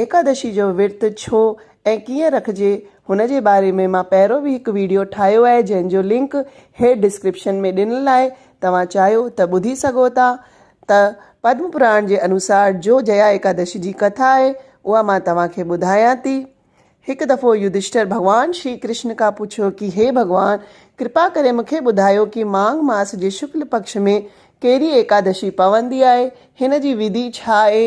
ايڪادشي جو ورت ڇو ۽ ڪيئن رکجي هن جي باري ۾ مان پهرو به هڪ ويڊيو ٺاهيو آهي جنهن جو لنڪ هيٺ ڊسڪرپشن ۾ ڏنل آهي توهان چاهيو ته ٻڌي سگهو ٿا ته پدم پراڻ جي انوسار جو جيا ايڪادشي جي ڪٿا آهي اها مان توهان کي ٻڌايان ٿي هڪ دفعو يڌشٽر ڀڳوان شري ڪرشن کان پڇيو ڪي هي ڀڳوان ڪرپا ڪري مون کي ٻڌايو ڪي ماگھ ماس جي شڪل پڪش ۾ ڪهڙي ايڪادشي پوندي آهي هن جي وڌي ڇا آهي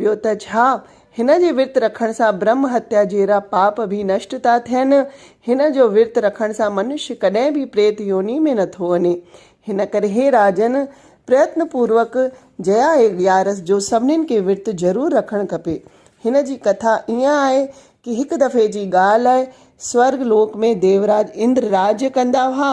ٻيو ته ڇا، هن جي ورت رکڻ سان برهم هتيا جهڙا پاپ به نشٽ ٿا ٿين. هن جو ورت رکڻ سان منشي ڪڏهن به پريت يوني ۾ نه ٿو وڃي. هن ڪري هي راجن، پريتن پوروڪ جيا ايگيارس جو سڀنين کي ورت ضرور رکڻ کپي. هن جي ڪٿا ائين آهي ڪي هڪ دفعي جي ڳالهه آهي، سورگ لوڪ ۾ ديوراج اندر راڄ ڪندا هئا.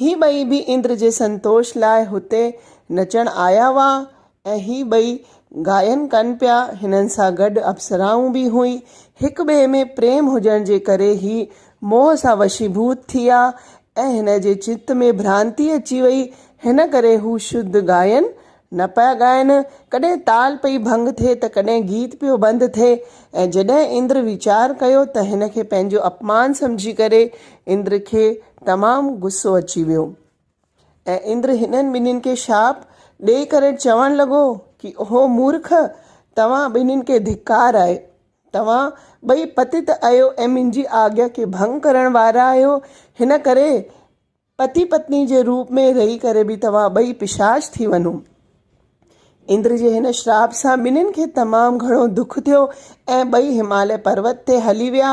هي ٻئي به اندر جي سنتوش لاء هتي نچڻ آيا هئا ۽ هي ٻئي گائن ڪن پيا. هنن سان گڏ اپسرائون به هيون. هڪ ٻئي ۾ پريم هجڻ جي ڪري هي موهه سان وشيڀوت ٿيا ۽ هن جي چت ۾ ڀرانتي اچي وئي. هن ڪري هو شڌ گائن نه پيا ڳائن، ڪڏهن تال پئي ڀنگ ٿئي ته ڪڏهن گيت پيو بند ٿئي ۽ جڏهن اندر ويچار ڪيو ته هن کي پنهنجو اپمان سمجهي ڪري اندر کي تمام غصو اچي ويو ۽ اندر هنن ٻنهين کي شاپ ڏئي ڪري چوڻ لڳو ڪي اهو مورک توهان ٻنهين کي ڌڪار آهي توهان ٻئي پتت آهيو ۽ منهنجي آگيا کي ڀنگ ڪرڻ وارا آهيو هن ڪري پتي پتني جي روپ ۾ رهي ڪري به توهان ٻئي پشاچ ٿي وڃو. اندر جي هن شراپ سان ٻنهين کي تمام گهڻو دک ٿيو ۽ ٻئي هماليه پروت تي هلي ويا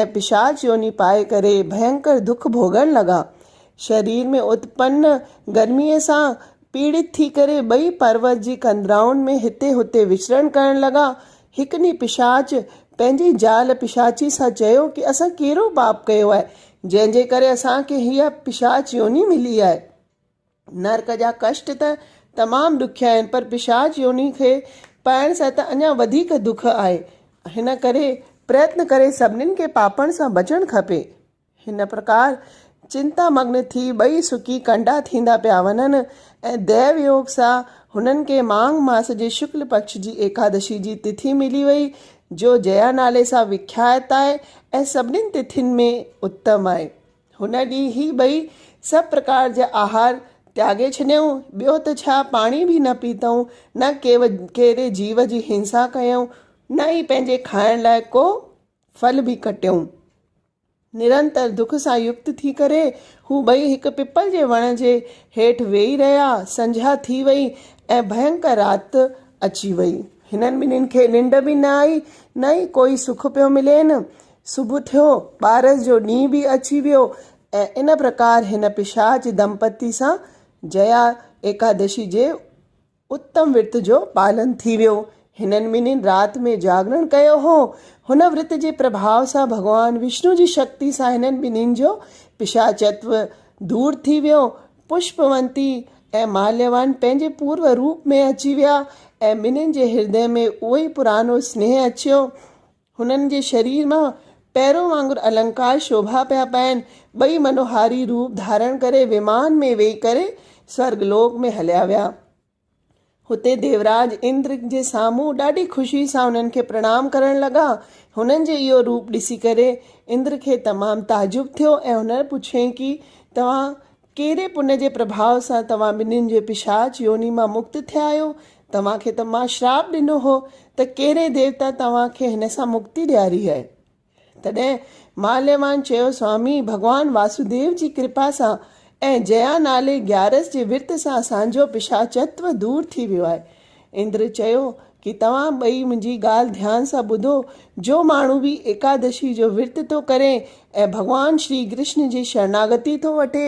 ۽ پشاچ يوني پائي ڪري ڀينڪر دک ڀوڳڻ لڳا. شرير ۾ اتپن گرميء سان پيڙت ٿي ڪري ٻئي پروت جي ڪندرائن ۾ هتي هتي وچرڻ ڪرڻ لڳا. هڪ ڏينهن پشاچ پنهنجي زال پشاچي سان چيو ته اسان ڪهڙو پاپ ڪيو آهي جنهن جي ڪري اسان کي هيء پشاچ يوني ملي آهي. نرڪ جا ڪشٽ ته تمام ڏکيا آهن پر پشاچ يوني کي پائڻ سان ته اڃا وڌيڪ دک آهي. هن ڪري پريتن ڪري سڀني کي پاپن سان بچڻ کپي. هن پرڪار چنتا مگن ٿي ٻئي سڪي ڪنڊا ٿيندا پيا وڃن ۽ ديو يوگ سان هنن کي ماگھ ماس جي شڪل پکش جي ايڪادشي جي تٿي ملي وئي جو جيا نالي سان وکيات آهي ۽ سڀني تٿين ۾ اتم آهي. هن ڏينهن هي ٻئي سڀ پرڪار جا آهار تياڳي ڇڏيائون ٻيو ته ڇا پاڻي به نه پيتائون نه ڪيري جيو جي هنسا ڪيائون نه ئي پنهنجي کائڻ لاء ڪو ڦل به ڪٽيائون. نرنتر دک سان يڪت ٿي ڪري هو ٻئي هڪ پپل جي وڻ جي هيٺ ويهي رهيا. سنجها ٿي وئي ۽ ڀينڪر رات اچي وئي. هنن ٻنهين کي ننڊ به نه آئي نه ئي ڪوئي سک پيو ملين. صبح ٿيو، ٻارس جو ڏينهن به اچي ويو ۽ ان پرڪار هن پشاچ دمپتي سان جيا ايڪادشي جي اتم ورت جو پالن ٿي ويو. هنن ٻنهين رات ۾ جاڳرڻ ڪيو هو. هن ورت جي پرڀاء سان ڀڳوان وشنو جي شڪتي سان هنن ٻنهين جو پشاچتو دور ٿي ويو. پشپونتي ۽ ماليوان پنهنجي پورو روپ ۾ اچي ويا ۽ ٻنهين جي هردي ۾ اهو ئي پراڻو سنيهه اچيو. هنن جي شرير مان پيرو وانگر النڪار شوڀا پيا پائن. ٻئي منوهاري روپ ڌارڻ ڪري ومان ۾ ويهي ڪري سورڳ لوڪ ۾ هليا ويا. هتي ديوراج اندر جي سامهون ڏاڍي خوشي سان هنن کي پرڻام ڪرڻ لڳا. هنن جي اهو روپ ڏسي ڪري اندر کي تمام تعجب ٿيو ۽ هن پڇيائين ڪي توهان ڪهڙي پڃ جي پرڀاء سان توهان ٻنين جي پشاچ يوني مان مڪت ٿيا آهيو؟ توهان کي ته مان شراپ ڏنو هو ته ڪهڙي ديوتا توهان کي هن سان مڪتي ڏياري آهي؟ تڏهن ماليوان چيو سوامي ڀڳوان واسوديو جي ڪرپا سان ۽ جيا نالي گيارس جي ورت سان اسانجو پشاچتو دور ٿي ويو آهي. اندر چيو ڪي توهان ٻئي منهنجي ڳالهه ڌيان سان ٻڌو، جو ماڻهو به ايڪادشي جو ورت ٿو ڪري ۽ ڀڳوان شري ڪرشن جي شرناگتي ٿو وٺي،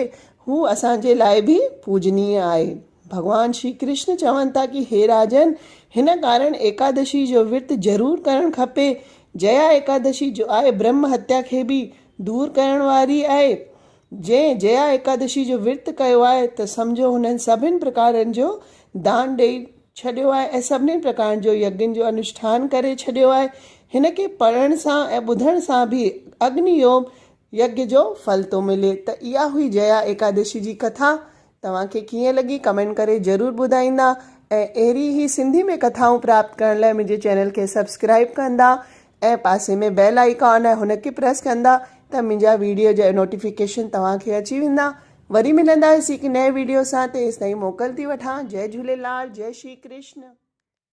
هو اسان جي لاء به پوجنيه آهي. ڀڳوان شري ڪرشن چون ٿا ڪي هي راجن! هن ڪارڻ ايڪادشي جو ورت ضرور ڪرڻ کپي. جيا ايڪادشي جو آهي برهمه هتيا کي به دور ڪرڻ واري آهي. جنهن جيا ايڪادشي جو ورت ڪيو آهي ته سمجهو هنن سڀني پرڪارن جو دان ڏيئي ڇڏيو آهي ۽ سڀني پرڪارن جو يگن جو انوشٺان ڪري ڇڏيو آهي. هن کي پڙهڻ سان ۽ ٻڌڻ سان به اگني هوم يگيا جو ڦل ٿو ملي ته اها هئي جيا ايڪادشي جي ڪٿا توهان کي ڪيئن لڳي ڪمينٽ ڪري ضرور ٻڌائيندا ۽ اهڙي هي سنڌي ۾ ڪٿائون پراپت ڪرڻ لاء منهنجي چينل کي سبسڪرائب ڪندا ۽ پاسي ۾ بيل آئيڪان آهي هن کي پريس ڪندا ته منهنجا ويڊيو جا نوٽيفڪيشن توهان کي اچي ويندا وري ملنداسي هڪ نئين ويڊيو سان تيستائين موڪل ٿي وٺان جئي جهوليلال جئي شري ڪرشن.